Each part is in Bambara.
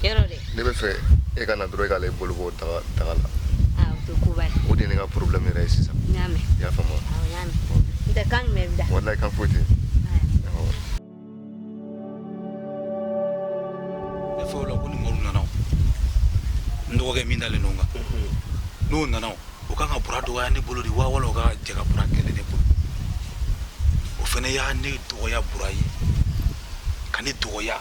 ne b'a fɛ e ka na dɔrɔn e k'ale bolo bɔ daga la ah, o de ye ne ka problème yɛrɛ ye sisan i y'a faamu ah, walayi kan foyi tɛ ne fɛ o la ko ni mɔru nana n dɔgɔkɛ min dalen don n kan n'o nana o kan ka bura dɔgɔya ne bolo de wa wala o kan ka jɛ ka bura kɛlɛ ne bolo o fana y'a ne dɔgɔya bura ye ka ne dɔgɔya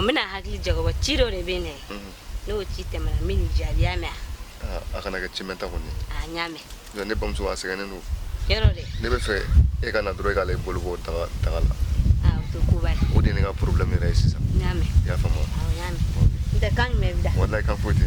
N bɛna hakili jagabɔ ci dɔ de bɛ ne n'o ci tɛmɛnen min jaabi y'a mɛn a kana kɛ ci mɛnta kɔni ne bamuso a sɛgɛnnen don ne b'a fɛ e ka na dɔrɔn e k'ale bolo bɔ daga la ah, o de ye ne ka problème yɛrɛ ye sisan i y'a faamu walayi kan foyi tɛ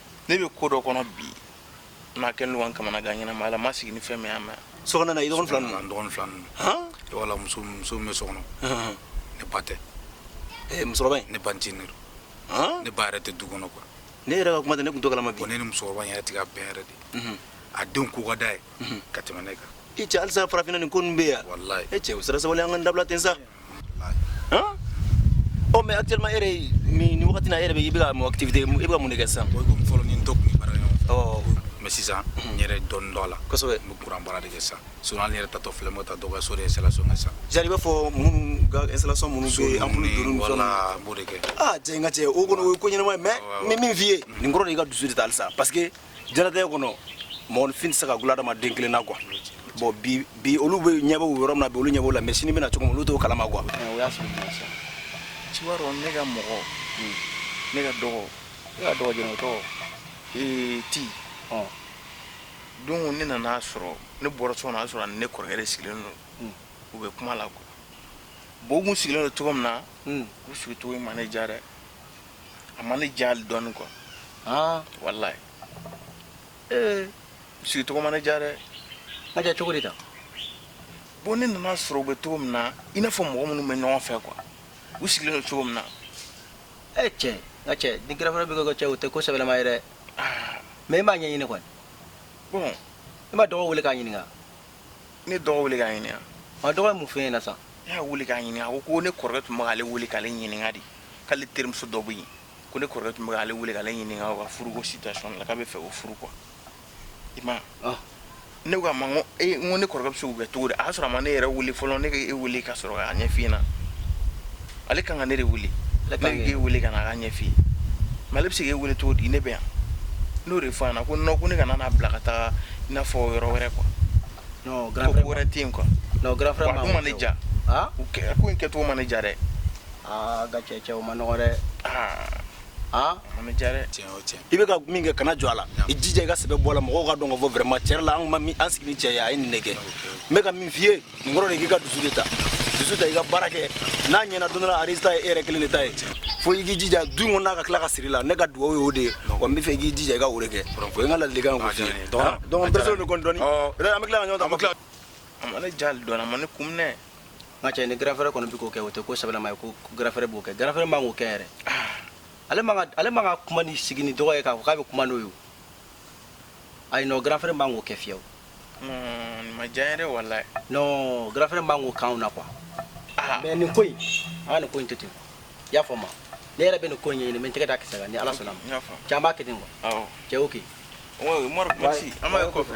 ne bɛ ko dɔ kɔnɔ bi n'a kɛlen don ka n kamana gan ɲɛnama ala ma sigi ni fɛn min ma sokɔnɔna i dɔgɔnin fila ninnu dɔgɔnin fila ninnu wala muso min bɛ so kɔnɔ ne ba tɛ musokɔrɔba in ne ba ncinin don ne ba yɛrɛ tɛ du kɔnɔ quoi ne yɛrɛ ka kuma tɛ ne tun t'o kalama bon ne ni musokɔrɔba in yɛrɛ tɛ ka bɛn yɛrɛ de a denw ko ka d'a ye ka tɛmɛ ne kan i cɛ halisa farafinna nin ko ninnu bɛ yan e cɛ o sera sabali an k'a dabila ten sa Ɔ mɛ adama e ni wagati e yɛrɛ bɛ i bɛ mɔ tɛ i bɛ mun kɛ san fɔlɔ ni dɔ tun bara mɛ sisan n yɛrɛ dɔn dɔ la kosɛbɛ n bɛ kuran baara de kɛ sa so an yɛrɛ tatɔ filɛ ta dɔgɔ so ye sa sa jaa b'a fɔ minnu gaso minnu so an b'o de kɛ jɛ ka cɛ o kɔnɔ o ye ko ɲɛnama mɛ min min f'i ye nin kɔrɔ de' ka dusu de taa sa pa diɲɛnatigɛ kɔnɔ mɔgɔninfin tɛ se ka gula adamaden kelen na quoi bon bi bi olu bɛ ɲɛ b'u yɔrɔ min na bi olu ɲɛ b'o la mais sini bɛna cogo min olu t'o kalama quoi eh, o y'a sɔrɔ jumɛn sa cɛ i b'a dɔn ne ka mɔgɔ hmm. ne ka dɔgɔ ne ka dɔgɔ jɛnɛ o tɔgɔ ee ti don ne nana sɔrɔ ne bɔra so kɔnɔ a sɔrɔ ne kɔrɔkɛ de sigilen don hmm. u bɛ kuma la quoi bon u kun sigilen don cogo min na hmm. u sigi cogo in ma ne diya dɛ a ma ne diya dɔɔnin quoi aa walayi ee sigi cogo ma ne diya dɛ a diya cogo di tan bon ne nana sɔrɔ u bɛ cogo min na i n'a fɔ mɔgɔ minnu bɛ ɲɔgɔn fɛ quoi u sigilen don cogo min na ee cɛ nka cɛ ni grand frère bɛ kɛ ka cɛ o tɛ ko sɛbɛlama ye dɛ mais i m'a ɲɛɲini kɔni bon i ma dɔgɔ wele k'a ɲininka ne dɔgɔ wele k'a ɲininka a dɔgɔ ye mun f'i ɲɛna sa ne y'a wele k'a ɲininka a ko ko ne kɔrɔkɛ tun bɛ k'ale wele k'ale ɲininka de k'ale terimuso dɔ bɛ yen ko ne kɔrɔkɛ tun bɛ k'ale wele k'ale ɲininka o ka furuko situation la k'a bɛ fɛ o furu quoi i ma ah. ne ko a ma ko e n ko ne kɔrɔkɛ bɛ se k'o kɛ cogo di a y'a sɔrɔ a ma ne yɛrɛ wele fɔlɔ ne ka e wele ka sɔrɔ k'a ɲɛf'i ɲɛna Ale kan ka ne de wele ne k'e wele ka n'a ɲɛf'i ye mais ale bɛ se k'e wele cogo di ne bɛ yan n'o de fɔ ko non ko ne kana n'a bila ka taa i n'a fɔ yɔrɔ wɛrɛ quoi ko wɛrɛ tɛ yen quoi a ma ne diya ko in kɛcogo ma ne diya dɛ nka cɛ cɛ o man nɔgɔ dɛ aa i bɛ ka min kɛ kana jɔ a la i jija i ka sɛbɛ bɔ a la mɔgɔw k'a dɔn k'a fɔ vraiment tiɲɛ la an ma an sigi cɛ a ye nin de kɛ n bɛ ka min f'i ye Nin kɔrɔ de k'i ka dusu de ta dusu ta i ka baara kɛ n'a ɲɛna don dɔ a résultat ye e yɛrɛ kelen de ta ye fo i k'i jija du kɔnɔ n'a ka tila ka siri la ne ka dugawu y'o de ye wa n bɛ fɛ i k'i jija i ka o de kɛ o ye n ka ladilikan ye k'o f'i ye donc n pressé de kɔni dɔɔni an bɛ tila ka ɲɔgɔn ta an bɛ tila a ma ne diya dɔɔni a ma ne kun minɛ nka cɛ ni grand frère kɔni bɛ k'o kɛ o tɛ ko sɛbɛlama ye ko grand frère b'o kɛ grand frère man k'o kɛ yɛrɛ ale man ka ale man ka kuma ni sigi ni dɔgɔ ye k'a fɔ k'a bɛ kuma n'o ye o ayi non grand frère man k'o kɛ fiyewu ma diya yɛrɛ walayi non grand frère man k'o k'anw na quoi ah. mais nin ko in an ka nin ko in to ten i y'a faamu ne yɛrɛ bɛ nin ko in ɲɛɲini n bɛ n tɛgɛ da kisɛ kan ni ala sɔnna a ma cɛ an b'a kɛ ten quoi cɛ ok umaru merci an b'a ye kɔfɛ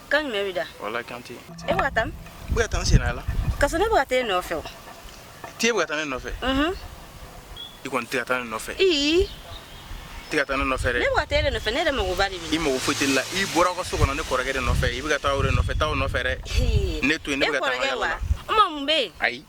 kan jumɛn bɛ da walayi kan tɛ e bɛ ka taa min n bɛ ka taa n senna la ka sɔrɔ ne bɛ ka taa e nɔfɛ o t'e bɛ ka taa ne nɔfɛ i kɔni tɛ ka taa ne nɔfɛ i tɛ ka taa ne nɔfɛ dɛ ne bɛ ka taa e de nɔfɛ ne yɛrɛ magoba de b'i la i mago foyi tɛ ne la i bɔra aw ka so kɔnɔ ne kɔrɔkɛ de nɔfɛ i bɛ ka taa o de nɔfɛ taa o nɔfɛ dɛ ne to yen ne bɛ ka taa n ka yala la n ma mun bɛ yen ayi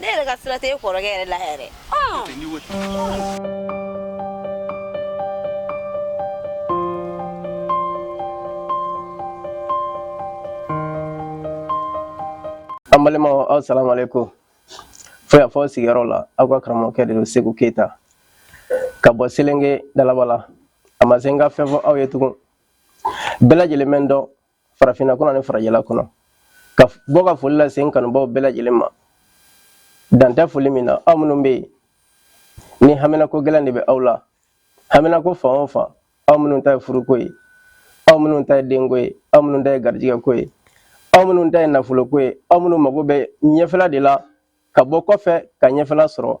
ne yɛrɛ ka sira tɛ e kɔrɔkɛ yɛrɛ la yɛrɛ an balimaw assalamu alaikum fo y'a fɔ sigiyɔrɔ la aw ka karamɔgɔkɛ de don segu keyita ka bɔ selenge dalabala a ma se n ka fɛn fɔ aw ye tugun bɛɛ lajɛlen bɛ n dɔn farafinna kɔnɔ ni farajɛla kɔnɔ ka bɔ ka foli lase n kanubaaw bɛɛ lajɛlen ma dan tɛ foli min na aw minnu bɛ yen ni haminako gɛlɛn de bɛ aw la haminako fan o fan aw minnu ta ye furuko ye aw minnu ta ye denko ye aw minnu ta ye garijɛgɛko ye aw minnu ta ye nafoloko ye aw minnu mago bɛ ɲɛfɛla de la ka bɔ kɔfɛ ka ɲɛfɛla sɔrɔ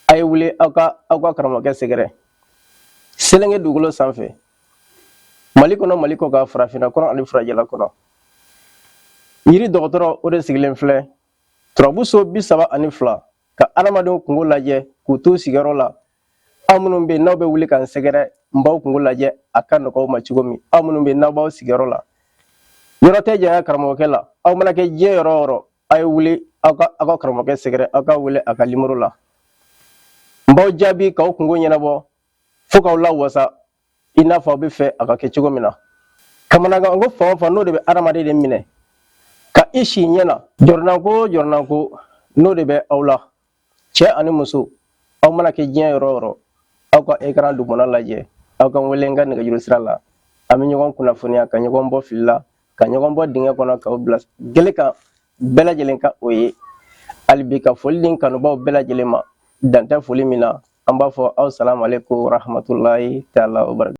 a ye wuli aw ka aw ka karamɔgɔkɛ sɛgɛrɛ selenge dugukolo sanfɛ mali kɔnɔ mali kɔkan farafinna kɔnɔ ani farajɛla kɔnɔ yiri dɔgɔtɔrɔ o de sigilen filɛ turabu so bi saba ani fila ka adamadenw kungo lajɛ k'u t'u sigiyɔrɔ la aw minnu bɛ yen n'aw bɛ wuli ka n sɛgɛrɛ n b'aw kungo lajɛ a ka nɔgɔ aw ma cogo min aw minnu bɛ yen n'aw b'aw sigiyɔrɔ la yɔrɔ tɛ janya karamɔgɔkɛ la aw mana kɛ diɲɛ yɔrɔ o yɔrɔ a ye wuli aw ka aw ka karamɔgɔkɛ sɛgɛrɛ aw ka wele a ka nimoro la n b'aw jaabi k'aw kungo ɲɛnabɔ fo k'aw lawasa i n'a fɔ aw b'a fɛ a ka kɛ cogo min na kamanagan ko fan o fan n'o de bɛ adamaden de minɛ ka i si ɲɛ na jɔrɔnanko o jɔrɔnanko n'o de bɛ aw la cɛ ani muso aw mana kɛ diɲɛ yɔrɔ o yɔrɔ aw ka ekran dugumana lajɛ aw ka wele n ka nɛgɛjuru sira la an bɛ ɲɔgɔn kunnafoniya ka ɲɔgɔn bɔ fili la ka ɲɔgɔn bɔ dingɛ kɔnɔ k'aw bila gele kan bɛɛ lajɛlen ka o ye hali bi ka foli di n kanubaaw bɛɛ lajɛlen ma dan tɛ foli min na an b'a fɔ aw salamu aleykum warahamatulayi taala